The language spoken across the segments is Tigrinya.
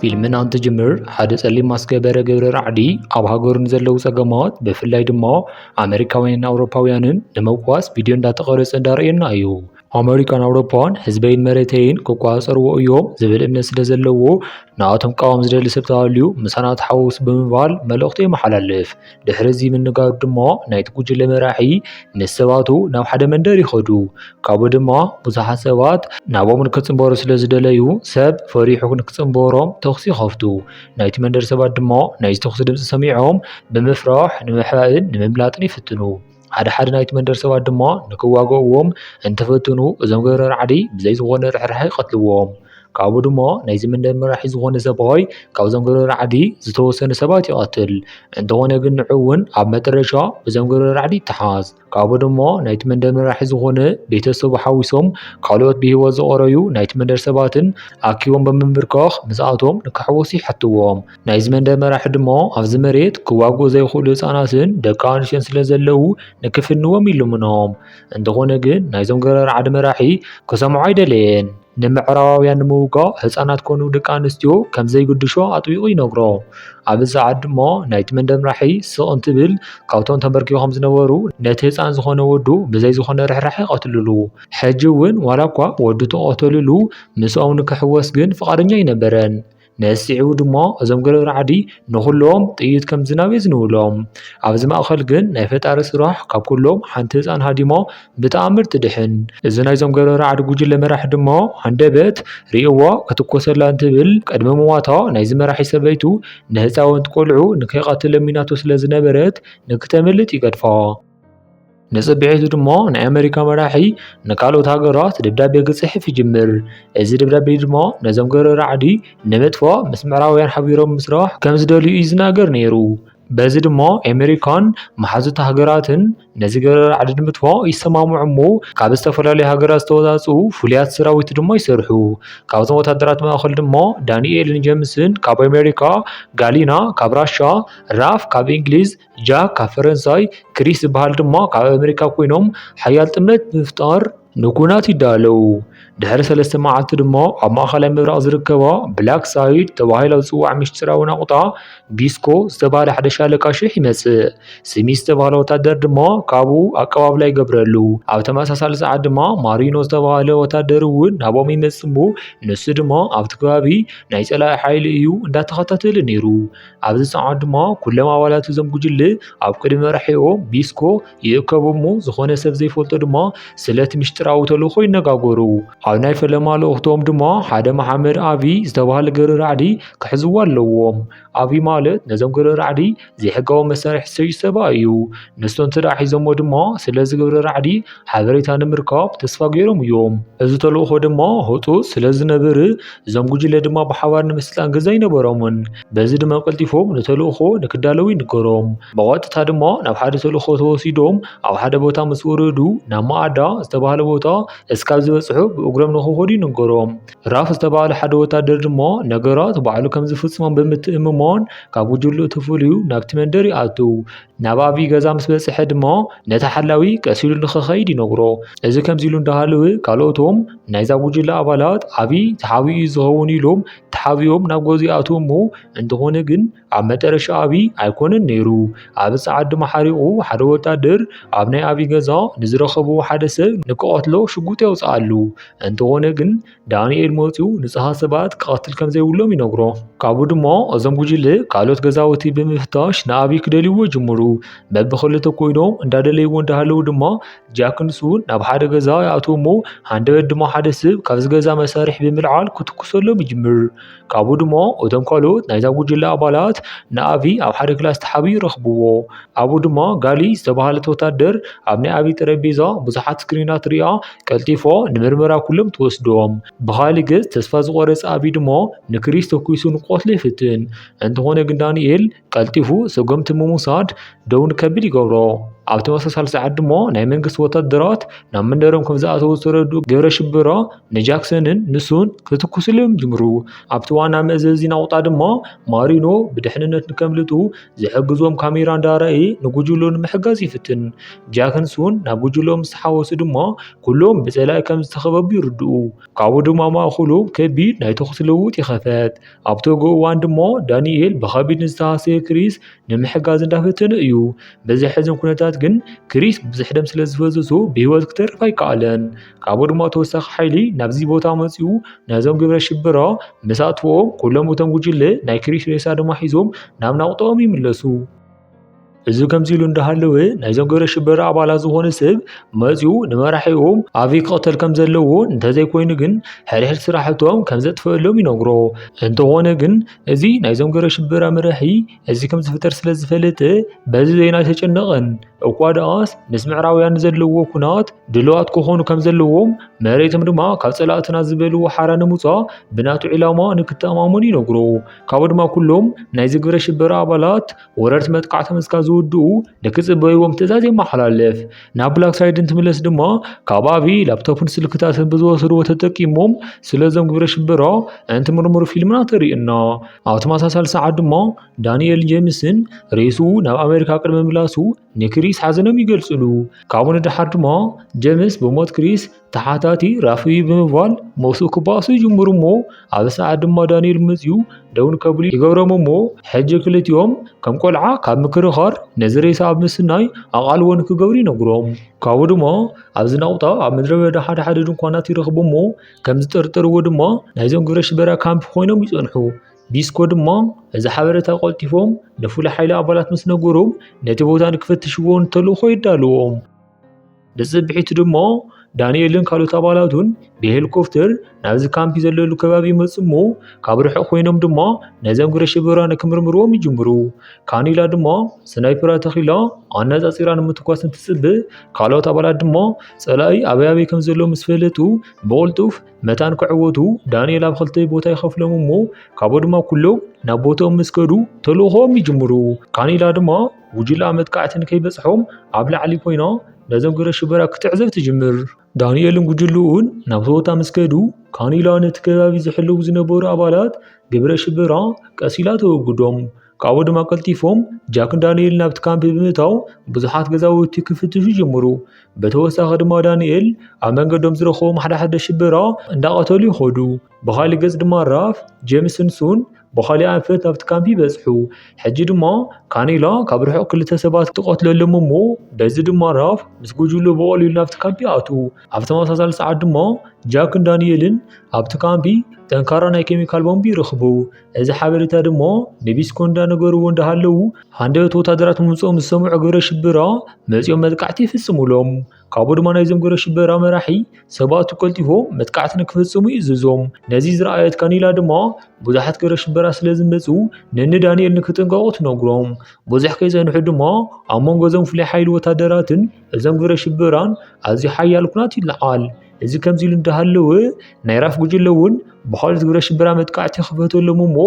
ፊልምና እንትጅምር ሓደ ጸሊም ማስክ ገበረ ግብረ ራዕዲ ኣብ ሃገሩ ንዘለዉ ጸገማት ብፍላይ ድማ ኣመሪካውያንን ኣውሮፓውያንን ንምውቃስ ቪድዮ እንዳተቐረጸ እንዳርእየና እዩ። ኣመሪካን ኣውሮፓን ህዝበይን መሬተይን ክቆጻጸርዎ እዮም ዝብል እምነት ስለ ዘለዎ ንኣቶም ቃዋም ዝደሊ ሰብ ተሃልዩ ምሳና ተሓዋውስ ብምባል መልእኽቱ የመሓላልፍ። ድሕሪ እዚ ምንጋሩ ድማ ናይቲ ጉጅለ መራሒ ምስ ሰባቱ ናብ ሓደ መንደር ይኸዱ። ካብኡ ድማ ብዙሓት ሰባት ናብኦም ንክጽንበሩ ስለ ዝደለዩ ሰብ ፈሪሑ ንክጽንበሮም ተኹሲ ይኸፍቱ። ናይቲ መንደር ሰባት ድማ ናይዚ ተኹሲ ድምጺ ሰሚዖም ብምፍራሕ ንምሕባእን ንምምላጥን ይፍትኑ። ሓደ ሓደ ናይቲ መንደር ሰባት ድማ ንክዋግእዎም እንትፍትኑ እዞም ገብረ ራዕዲ ብዘይ ዝኾነ ርሕራሐ ይቐትልዎም። ካብኡ ድማ ናይዚ መንደር መራሒ ዝኾነ ሰብኣይ ካብዞም ገብረ ራዕዲ ዝተወሰኑ ሰባት ይቐትል። እንተኾነ ግን ንዑ እውን ኣብ መጠረሻ ብዞም ገብረ ራዕዲ ይተሓዝ። ካብኡ ድማ ናይቲ መንደር መራሒ ዝኾነ ቤተሰቡ ሓዊሶም ካልኦት ብህይወት ዝቐረዩ ናይቲ መንደር ሰባትን ኣኪቦም ብምምብርካኽ ምስኣቶም ንክሕወሱ ይሓትዎም። ናይዚ መንደር መራሒ ድማ ኣብዚ መሬት ክዋግኡ ዘይኽእሉ ህፃናትን ደቂ ኣንስትዮን ስለ ዘለዉ ንክፍንዎም ይልምኖም። እንተኾነ ግን ናይዞም ገረር ዓዲ መራሒ ክሰምዖ ኣይደለየን። ንምዕራባውያን ንምውጋእ ህፃናት ኮኑ ደቂ ኣንስትዮ ከም ዘይግድሾ ኣጥቢቑ ይነግሮ። ኣብዚ ሰዓት ድማ ናይቲ መንደር ምራሒ ስቕ እንትብል ካብቶም ተንበርኪኾም ዝነበሩ ነቲ ህፃን ዝኾነ ወዱ ብዘይ ዝኾነ ርሕራሐ ይቐትልሉ። ሕጂ እውን ዋላ እኳ ወዱ ተቐተልሉ ምስኦም ንክሕወስ ግን ፍቓደኛ ኣይነበረን። ነሲዕቡ ድሞ እዞም ገለ ራዕዲ ንኹሎም ጥይት ከም ዝናብ የዝንብሎም። ኣብዚ ማእኸል ግን ናይ ፈጣሪ ስራሕ ካብ ኩሎም ሓንቲ ህፃን ሃዲሞ ብተኣምር ትድሕን። እዚ ናይዞም ገለ ራዕዲ ጉጅለ መራሒ ድሞ ሃንደበት ሪኡዎ ክትኮሰላ እንትብል ቅድሚ ምሟታ ናይዚ መራሒ ሰበይቱ ንህፃወንቲ ቆልዑ ንከይቐትል ለሚናቶ ስለዝነበረት ንክተምልጥ ይገድፋ። ንጽብሒቱ ድማ ናይ ኣመሪካ መራሒ ንካልኦት ሃገራት ደብዳቤ ክጽሕፍ ይጅምር። እዚ ደብዳቤ ድማ ነዞም ገረ ራዕዲ ንምጥፋእ ምስ ምዕራባውያን ሓቢሮም ምስራሕ ከም ዝደልዩ እዩ ዝናገር ነይሩ። በዚ ድማ ኣመሪካን መሓዙት ሃገራትን ነዚ ገረ ራዕዲ ንምጥፋእ ይሰማምዑ እሞ ካብ ዝተፈላለዩ ሃገራት ዝተወጻጽኡ ፍሉያት ሰራዊት ድማ ይሰርሑ። ካብዞም ወታደራት ማእከል ድማ ዳንኤልን ጀምስን ካብ ኣመሪካ፣ ጋሊና ካብ ራሻ፣ ራፍ ካብ እንግሊዝ፣ ጃክ ካብ ፈረንሳይ፣ ክሪስ ዝበሃል ድማ ካብ ኣመሪካ ኮይኖም ሓያል ጥምረት ብምፍጣር ንኲናት ይዳለዉ። ድሕሪ ሰለስተ መዓልቲ ድማ ኣብ ማእከላይ ምብራቕ ዝርከባ ብላክ ሳይድ ተባሂላ ዝጽዋዕ ምስጢራዊ ናቑጣ ቢስኮ ዝተባህለ ሓደ ሻለቃ ሽሕ ይመጽእ። ስሚዝ ዝተባህለ ወተሃደር ድማ ካብኡ ኣቀባብላ ይገብረሉ። ኣብ ተመሳሳሊ ሰዓት ድማ ማሪኖ ዝተባህለ ወተሃደር እውን ናብኦም ይመጽእ እሞ ንሱ ድማ ኣብቲ ከባቢ ናይ ጸላኢ ሓይሊ እዩ እንዳተኸታተለ ነይሩ። ኣብዚ ሰዓት ድማ ኩሎም ኣባላት እዞም ጉጅለ ኣብ ቅድሚ መራሒኦም ቢስኮ ይእከቡ እሞ ዝኾነ ሰብ ዘይፈልጦ ድማ ስለቲ ምሽጥራዊ ተልእኾ ይነጋገሩ። ኣብ ናይ ፈለማ ልእኽቶም ድማ ሓደ መሓመድ ኣቢ ዝተባህለ ገረ ራዕዲ ክሕዝዎ ኣለዎም። ኣቢ ማለት ነዞም ገረ ራዕዲ ዘይሕጋዊ መሳርሒ ዝሰዩ ሰባ እዩ። ንሱ እንተደኣ ሒዞሞ ድማ ስለዚ ግብረ ራዕዲ ሓበሬታ ንምርካብ ተስፋ ገይሮም እዮም። እዚ ተልእኾ ድማ ህጡት ስለ ዝነብር እዞም ጉጅለ ድማ ብሓባር ንምስልጣን ግዘ ኣይነበሮምን። በዚ ድማ ቀልጢፎም ንተልእኾ ንክዳለዉ ይንገሮም። ብቐጥታ ድማ ናብ ሓደ ተልእኾ ተወሲዶም ኣብ ሓደ ቦታ ምስ ወረዱ ናብ መኣዳ ዝተባህለ ቦታ እስካብ ዝበፅሑ ብእግሮም ንክኸዱ ይንገሮም። ራፍ ዝተባህለ ሓደ ወታደር ድማ ነገራት ባዕሉ ከም ዝፍፅሞም ብምትእምማን ካብ ጉጅልኡ ተፈልዩ ናብቲ መንደር ይኣትው። ናብ ኣብዪ ገዛ ምስ በጽሐ ድማ ነቲ ሓላዊ ቀስ ኢሉ ንኽኸይድ ይነግሮ። እዚ ከምዚ ኢሉ እንዳሃለወ ካልኦቶም ናይዛ ጉጅለ ኣባላት ኣብዪ ተሓቢኡ እዩ ዝኸውን ኢሎም ተሓቢኦም ናብ ገዝኡ ይኣትዉ እሞ እንተኾነ ግን ኣብ መጠረሻ ኣብዪ ኣይኮነን ነይሩ። ኣብ ጸዓዱ መሓሪቑ ሓደ ወታደር ኣብ ናይ ኣብዪ ገዛ ንዝረኸብዎ ሓደ ሰብ ንክቐትሎ ሽጉጥ የውጽኣሉ። እንተኾነ ግን ዳንኤል መፂኡ ንፅሃት ሰባት ክቐትል ከም ዘይብሎም ይነግሮ ካብኡ ድማ እዞም ጉጅለ ካልኦት ገዛውቲ ብምፍታሽ ንኣብይ ክደልይዎ ጅምሩ በብክልተ ኮይኖም እንዳደለይዎ እንዳሃለዉ ድማ ጃክ ንሱን ናብ ሓደ ገዛ ይኣትዎ እሞ ሃንደበት ድማ ሓደ ስብ ካብዚ ገዛ መሳርሒ ብምልዓል ክትኩሰሎም ይጅምር ካብኡ ድሞ እቶም ካልኦት ናይዛ ጉጅለ ኣባላት ንኣቢ ኣብ ሓደ ክላስ ተሓቢኡ ይረኽብዎ። ኣብኡ ድማ ጋሊ ዝተባህለት ወታደር ኣብ ናይ ኣቢ ጠረጴዛ ብዙሓት ስክሪናት ርእያ ቀልጢፎ ንምርመራ ኩሎም ትወስዶም። ብኻሊ ገጽ ተስፋ ዝቖረጸ ኣቢ ድሞ ንክሪስ ተኩሱ ንክቐትሎ ይፍትን። እንተኾነ ግን ዳኒኤል ቀልጢፉ ሰጎምቲ ምውሳድ ደው ንከብል ይገብሮ። ኣብ ተመሳሳሊ ሰዓት ድማ ናይ መንግስቲ ወታደራት ናብ መንደሮም ከም ዝኣተዉ ዝተረድኡ ግብረ ሽበራ ንጃክሰንን ንሱን ክትኩስሎም ጅምሩ። ኣብቲ ዋና መእዘዚ ናቑጣ ድማ ማሪኖ ብድሕንነት ንከምልጡ ዝሕግዞም ካሜራ እንዳረኣየ ንጉጅሎ ንምሕጋዝ ይፍትን። ጃክን ሱን ናብ ጉጅሎ ምስ ተሓወሱ ድማ ኩሎም ብጸላኢ ከም ዝተኸበቡ ይርድኡ። ካብኡ ድማ ማእከሎም ከቢድ ናይ ተኹሲ ልውውጥ ይኸፈት። ኣብቲ ግ እዋን ድሞ ዳኒኤል ብኸቢድ ንዝተሃሰየ ክሪስ ንምሕጋዝ እንዳፈተነ እዩ። በዚ ሕዝን ኩነታት ግን ክሪስ ብዙሕ ደም ስለ ዝፈሰሱ ብህይወት ክተርፍ ኣይከኣለን። ካብኡ ድማ ተወሳኺ ሓይሊ ናብዚ ቦታ መፂኡ ነዞም ግብረ ሽበራ ምስ ኣጥፍኦም ኩሎም እቶም ጉጅለ ናይ ክሪስ ሬሳ ድማ ሒዞም ናብ ናቑጣኦም ይምለሱ። እዚ ከምዚ ኢሉ እንዳሃለወ ናይዞም ግብረ ሽበራ ኣባላት ዝኾነ ሰብ መፂኡ ንመራሒኦም ኣበይ ክቕተል ከም ዘለዎ እንተዘይኮይኑ ግን ሕድሕድ ስራሕቶም ከም ዘጥፍእሎም ይነግሮ። እንተኾነ ግን እዚ ናይዞም ግብረ ሽበራ መራሒ እዚ ከም ዝፍጠር ስለ ዝፈለጠ በዚ ዜና ኣይተጨነቐን። እኳ ደኣስ ምስ ምዕራባውያን ዘለዎ ኩናት ድልዋት ክኾኑ ከም ዘለዎም መሬቶም ድማ ካብ ፀላእትና ዝበልዎ ሓራ ንምውፃእ ብናቱ ዒላማ ንክተኣማመኑ ይነግሮ። ካብኡ ድማ ኩሎም ናይዚ ግብረ ሽበራ ኣባላት ወረርቲ መጥቃዕቶም እስካብ ዝውድኡ ንክፅበይዎም ትእዛዝ የመሓላልፍ። ናብ ብላክ ሳይድ እንትምለስ ድማ ካብ ኣቢ ላፕቶፕን ስልክታትን ብዝወሰድዎ ተጠቂሞም ስለዞም ግብረ ሽበራ እንትምርምሩ ፊልምና ተርእዩና። ኣብ ተመሳሳሊ ሰዓት ድማ ዳንኤል ጄምስን ሬሱ ናብ ኣሜሪካ ቅድሚ ምላሱ ንክሪስ ሓዘኖም ይገልፅሉ። ካብኡ ንደሓር ድማ ጄምስ ብሞት ክሪስ ተሓታቲ ራፍይ ብምባል ሞሱ ክባኣሱ ይጅምሩ እሞ ኣብ ሰዓት ድማ ዳንኤል ምፅዩ ደውን ከብሉ ይገብሮም እሞ ሕጂ ክልቲኦም ከም ቆልዓ ካብ ምክርኻር ነዚ ሬሳ ኣብ ምስናይ ኣቓልቦ ንክገብሩ ይነግሮም ካብኡ ድማ ኣብዚ ናቑጣ ኣብ ምድረ በዳ ሓደ ሓደ ድንኳናት ይረኽቡ እሞ ከም ዝጥርጥርዎ ድማ ናይዞም ግብረ ሽበራ ካምፕ ኮይኖም ይፀንሑ ቢስኮ ድማ እዚ ሓበሬታ ቆልጢፎም ንፍሉይ ሓይሊ ኣባላት ምስ ነገሮም ነቲ ቦታ ንክፈትሽዎ ንተልእኾ የዳልዎም ብጽብሒቱ ድማ ዳንኤልን ካልኦት ኣባላቱን ብሄሊኮፕተር ናብዚ ካምፒ ዘለሉ ከባቢ ይመፁ እሞ ካብ ርሑቕ ኮይኖም ድማ ነዘም ግብረ ሽበራን ክምርምርዎም ይጅምሩ። ካኒላ ድማ ስናይፐራ ተኺላ ኣነፃፂራ ንምትኳስ እንትፅብእ ካልኦት ኣባላት ድማ ፀላኢ ኣበይ ኣበይ ከም ዘሎ ምስ ፈለጡ ብቕልጡፍ መታን ክዕወቱ ዳንኤል ኣብ ክልተ ቦታ ይኸፍሎም እሞ ካብኡ ድማ ኩሎም ናብ ቦትኦም ምስ ከዱ ተልእኾም ይጅምሩ። ካኒላ ድማ ጉጅላ መጥቃዕቲ ንከይበጽሖም ኣብ ላዕሊ ኮይና ነዞም ግብረ ሽበራ ክትዕዘብ ትጅምር። ዳንኤልን ጉጅልኡን ናብ ቶዮታ ምስ ከዱ ካኒላ ነቲ ከባቢ ዝሕልው ዝነበሩ ኣባላት ግብረ ሽበራ ቀስ ኢላ ተወግዶም። ካብኡ ድማ ቀልጢፎም ጃክን ዳንኤል ናብቲ ካምፕ ብምእታው ብዙሓት ገዛውቲ ክፍትሹ ጀምሩ። ብተወሳኺ ድማ ዳንኤል ኣብ መንገዶም ዝረኸቦም ሓደሓደ ሽበራ እንዳቐተሉ ይኸዱ። ብኻሊእ ገፅ ድማ ራፍ፣ ጀምስን ሱን ብኻሊእ ኣንፈት ናብቲ ካምፕ ይበጽሑ። ሕጂ ድማ ካኔላ ካብ ርሑቕ ክልተ ሰባት ትቐትለሎም እሞ በዚ ድማ ራፍ ምስ ጉጅሉ ብቐሊሉ ናብቲ ካምፕ ይኣትዉ። ኣብ ተመሳሳሊ ሰዓት ድማ ጃክን ዳንኤልን ኣብቲ ካምፕ ጠንካራ ናይ ኬሚካል ቦምብ ይረኽቡ። እዚ ሓበሬታ ድማ ንቢስኮ እንዳነገርዎ እንዳሃለዉ ሃንደበት ወታደራት ምምጽኦም ዝሰምዑ ግብረ ሽበራ መጺኦም መጥቃዕቲ ይፍጽሙሎም። ካብኡ ድማ ናይዞም ግብረ ሽበራ መራሒ ሰባቱ ቀልጢፎ መጥቃዕቲ ንክፍፅሙ እዩ ዝዞም ነዚ ዝረኣየት ካኒላ ድማ ብዙሓት ግብረ ሽበራ ስለ ዝመፁ ነኒ ዳንኤል ንክጥንቀቑ ትነግሮም ብዙሕ ከይፀንሑ ድማ ኣብ መንጎ እዞም ፍሉይ ሓይሊ ወታደራትን እዞም ግብረ ሽበራን ኣዝዩ ሓያል ኩናት ይለዓል እዚ ከምዚ ኢሉ እንዳሃለወ ናይ ራፍ ጉጅለ እውን ብካልኦት ግብረ ሽበራ መጥቃዕቲ ክፈተሎም እሞ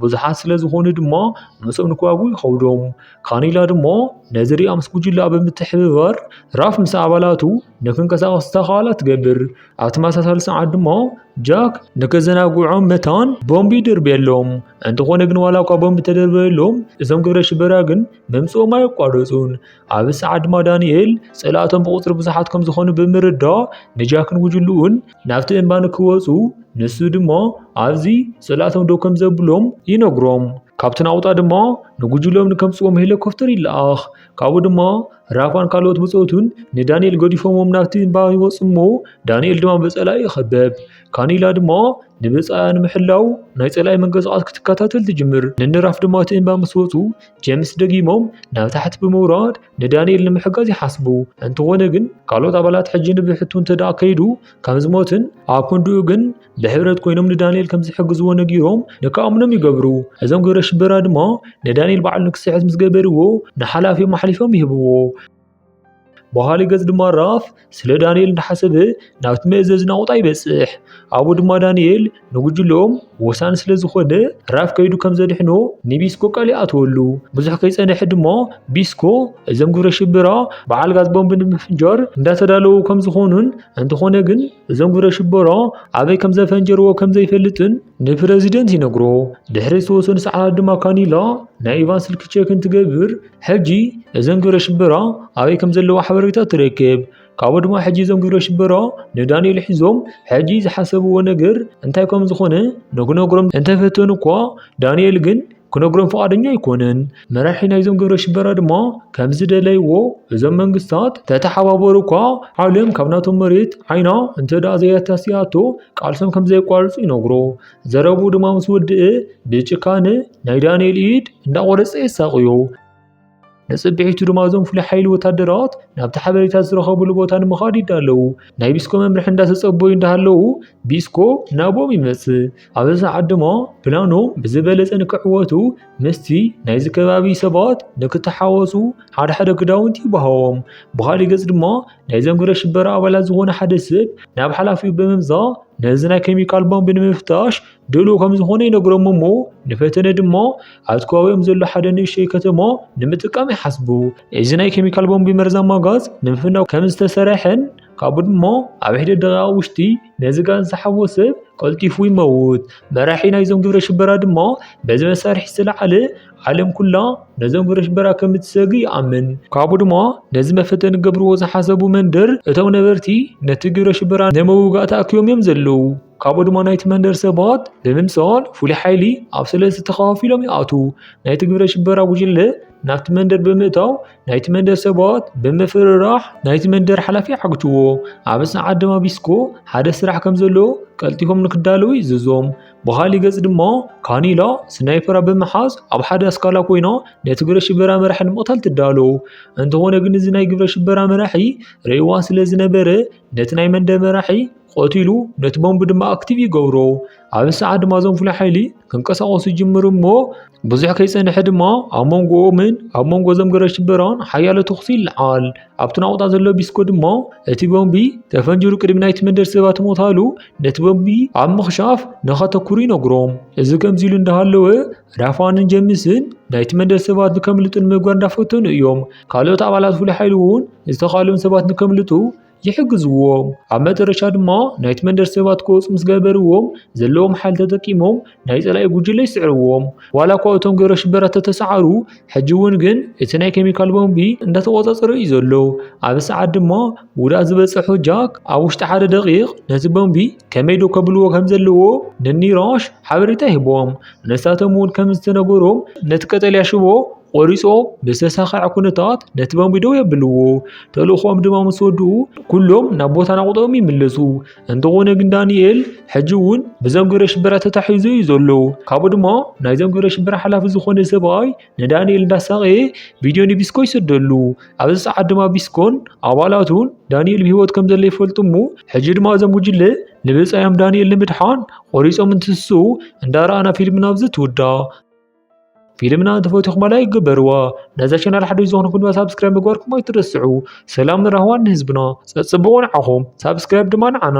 ብዙሓት ስለ ዝኾኑ ድማ ምስኦም ንክዋግኡ ይኸብዶም ካኒላ ድማ ነዚ ሪኣ ምስ ጉጅላ ብምትሕብባር ራፍ ምስ ኣባላቱ ንክንቀሳቐሱ ዝተኻእላ ትገብር። ኣብ ተመሳሳሊ ሰዓት ድማ ጃክ ንከዘናግዖም መታን ቦምቢ ይድርብየሎም። እንተኾነ ግን ዋላ እኳ ቦምቢ ተደርበየሎም እዞም ግብረ ሽበራ ግን ምምፅኦም ኣየቋረፁን። ኣብዚ ሰዓት ድማ ዳንኤል ፀላእቶም ብቁፅሪ ብዙሓት ከም ዝኾኑ ብምርዳእ ንጃክን ጉጅልኡን ናብቲ እምባ ንክወፁ ንሱ ድማ ኣብዚ ስእላቶም ደው ከም ዘብሎም ይነግሮም ካብቲ ናውጣ ድማ ንጉጅሎም ንከምፅዎም ሄሊኮፕተር ይለኣኽ ካብኡ ድማ ራፋን ካልኦት ብፆቱን ንዳንኤል ገዲፎሞም ናብቲ እምባ ይወፁ እሞ ዳንኤል ድማ ብፀላኢ ይኸበብ ካኒላ ድማ ንብፃያ ንምሕላው ናይ ፀላኢ መንቀሳቐስ ክትከታተል ትጅምር ንንራፍ ድማ እቲ እምባ ምስ ወፁ ጀምስ ደጊሞም ናብ ታሕቲ ብምውራድ ንዳንኤል ንምሕጋዝ ይሓስቡ። እንተኾነ ግን ካልኦት ኣባላት ሕጂ ንብሕቱ እንተደኣ ከይዱ ከም ዝሞትን ኣብ ክንድኡ ግን ብሕብረት ኮይኖም ንዳንኤል ከም ዝሕግዝዎ ነጊሮም ንክኣምኖም ይገብሩ። እዞም ግብረ ሽበራ ድማ ንዳንኤል በዓል ንክስሕት ምስ ገበርዎ ንሓላፊኦም ኣሕሊፎም ይህብዎ። በሃሊ ገጽ ድማ ራፍ ስለ ዳንኤል እንዳሓሰበ ናብቲ መእዘዝ ናቑጣ ይበጽሕ። ኣብኡ ድማ ዳንኤል ንጉጅሎም ወሳኒ ስለ ዝኾነ ራፍ ከይዱ ከም ዘድሕኖ ንቢስኮ ቃል ይኣትወሉ። ብዙሕ ከይጸንሐ ድማ ቢስኮ እዞም ግብረ ሽበራ በዓል ጋዝ ቦምብ ንምፍንጃር እንዳተዳለዉ ከም ዝኾኑን እንተኾነ ግን እዞም ግብረ ሽበራ ኣበይ ከም ዘፈንጀርዎ ከም ዘይፈልጥን ንፕረዚደንት ይነግሮ። ድሕሪ ዝተወሰኑ ሰዓታት ድማ ካኒላ ናይ ኢቫን ስልኪ ቼክ እንትገብር ሕጂ እዘን ግብረ ሽበራ ኣበይ ከም ዘለዋ ሓበሬታ ትረክብ። ካብኡ ድማ ሕጂ እዞም ግብረ ሽበራ ንዳንኤል ሒዞም ሕጂ ዝሓሰብዎ ነገር እንታይ ከም ዝኾነ ንክነግሮም እንተፈተኑ እኳ ዳንኤል ግን ክነግሮም ፍቓደኛ ኣይኮነን። መራሒ ናይዞም ግብረ ሽበራ ድማ ከም ዝደለይዎ እዞም መንግስታት ተተሓባበሩ እኳ ዓለም ካብ ናቶም መሬት ዓይና እንተደኣ ዘየታሲኣቶ ቃልሶም ከም ዘየቋርጹ ይነግሮ። ዘረብኡ ድማ ምስ ወድእ ብጭካነ ናይ ዳንኤል ኢድ እንዳቖረጸ የሳቕዮ። ንጽብሒቱ ድማ እዞም ፍሉይ ሓይሊ ወታደራት ናብቲ ሓበሬታ ዝረኸብሉ ቦታ ንምኻድ ይዳለዉ ናይ ቢስኮ መምርሒ እንዳተጸበዩ እንዳሃለዉ ቢስኮ ናቦም ይመጽእ ኣብ ሰዓት ድማ ፕላኖም ብዝበለጸ ንክዕወቱ ምስቲ ናይዚ ከባቢ ሰባት ንክተሓወሱ ሓደ ሓደ ክዳውንቲ ይበሃዎም ብኻሊእ ገጽ ድማ ናይዞም ግብረ ሽበራ ኣባላት ዝኾነ ሓደ ሰብ ናብ ሓላፊኡ ብምምጻእ ነዚ ናይ ኬሚካል ቦምብ ንምፍታሽ ድሉው ከም ዝኾነ ይነግሮም እሞ ንፈተነ ድማ ኣብቲ ከባቢኦም ዘሎ ሓደ ንእሽተይ ከተማ ንምጥቃም ይሓስቡ። እዚ ናይ ኬሚካል ቦምቢ መርዛማ ጋዝ ንምፍናው ከም ዝተሰርሐን ካብኡ ድማ ኣብ ሒደት ደቂቓ ውሽጢ ነዚ ጋዝ ዝሓቦ ሰብ ቀልጢፉ ይመውት። መራሒ ናይዞም ግብረ ሽበራ ድማ በዚ መሳርሒ ዝተለዓለ ዓለም ኩላ ነዞም ግብረ ሽበራ ከም እትሰግ ይኣምን። ካብኡ ድማ ነዚ መፈተኒ ገብርዎ ዝሓሰቡ መንደር እቶም ነበርቲ ነቲ ግብረ ሽበራ ንምውጋእ ተኣኪቦም እዮም ዘለዉ። ካብኡ ድማ ናይቲ መንደር ሰባት ብምምሳል ፍሉይ ሓይሊ ኣብ ሰለስተ ተኸፋፊሎም ይኣትዉ። ናይቲ ግብረ ሽበራ ጉጅለ ናብቲ መንደር ብምእታው ናይቲ መንደር ሰባት ብምፍርራሕ ናይቲ መንደር ሓላፊ ዓግትዎ። ኣብ ሰዓት ድማ ቢስኮ ሓደ ስራሕ ከም ዘለዎ ቀልጢፎም ንክዳለዉ ይእዝዞም። ብኻሊእ ገጽ ድማ ካኒላ ስናይፐራ ብምሓዝ ኣብ ሓደ ኣስካላ ኮይና ነቲ ግብረ ሽበራ መራሒ ንምቕታል ትዳሎ። እንተኾነ ግን እዚ ናይ ግብረ ሽበራ መራሒ ርእይዋ ስለ ዝነበረ ነቲ ናይ መንደ መራሒ ቐትሉ ነቲ ቦምብ ድማ ኣክቲቭ ይገብሮ ኣብ ሰዓት ድማ ዞም ፍሉይ ሓይሊ ክንቀሳቐሱ ይጅምሩ እሞ ብዙሕ ከይፀንሐ ድማ ኣብ መንጎኦምን ኣብ መንጎ ዞም ገረ ሽበራን ሓያለ ተኹሲ ይለዓል ኣብቲ ናቑጣ ዘሎ ቢስኮ ድማ እቲ ቦምቢ ተፈንጅሩ ቅድሚ ናይቲ መንደር ሰባት ሞታሉ ነቲ ቦምቢ ኣብ ምኽሻፍ ንኸተኩሩ ይነግሮም እዚ ከምዚ ኢሉ እንዳሃለወ ራፋንን ጀምስን ናይቲ መንደር ሰባት ንከምልጡ ንምግባር እንዳፈተኑ እዮም። ካልኦት ኣባላት ፍሉይ ሓይሊ እውን ዝተኻልኦም ሰባት ንከምልጡ ይሕግዝዎም። ኣብ መጨረሻ ድማ ናይቲ መንደር ሰባት ክወፁ ምስ ገበርዎም ዘለዎም ሓይሊ ተጠቂሞም ናይ ፀላኢ ጉጅለ ይስዕርዎም። ዋላ እኳ እቶም ግብረ ሽበራ ተተሰዓሩ ሕጂ እውን ግን እቲ ናይ ኬሚካል ቦምቢ እንዳተቆፃፀረ እዩ ዘሎ። ኣብዚ ሰዓት ድማ ጉድኣት ዝበፀሑ ጃክ ኣብ ውሽጢ ሓደ ደቂቕ ነቲ ቦምቢ ከመይ ደው ከብልዎ ከም ዘለዎ ንኒራሽ ሓበሬታ ሂቦም ንሳቶም እውን ከም ዝተነገሮም ነቲ ቀጠልያ ሽቦ ቆሪፆም ብዝተሳኸዐ ኩነታት ነቲ ቦምቢ ደው የብልዎ ተልእኾኦም ድማ ምስ ወድኡ ኩሎም ናብ ቦታ ናቑጦም ይምለሱ እንተኾነ ግን ዳንኤል ሕጂ እውን ብዞም ግብረ ሽበራ ተታሒዙ እዩ ዘሎ ካብኡ ድማ ናይዞም ግብረ ሽበራ ሓላፊ ዝኾነ ሰብኣይ ንዳንኤል እንዳሳቐየ ቪድዮ ንቢስኮ ይሰደሉ ኣብዚ ሰዓት ድማ ቢስኮን ኣባላቱን ዳንኤል ብሂወት ከም ዘሎ ይፈልጡ እሞ ሕጂ ድማ እዞም ጉጅለ ንብፃዮም ዳንኤል ንምድሓን ቆሪፆም እንትስሱ እንዳረኣና ፊልምና ኣብዚ ትውዳ ፊልምና እንተፈትኹም ላይክ ግበርዋ ነዛ ቻናል ሓደ ዝኾኑ ኩድማ ሳብስክራይብ ምግባርኩም ኣይትረስዑ ሰላም ንራህዋን ንህዝብና ፀፅብቑ ንዓኹም ሳብስክራይብ ድማ ንዓና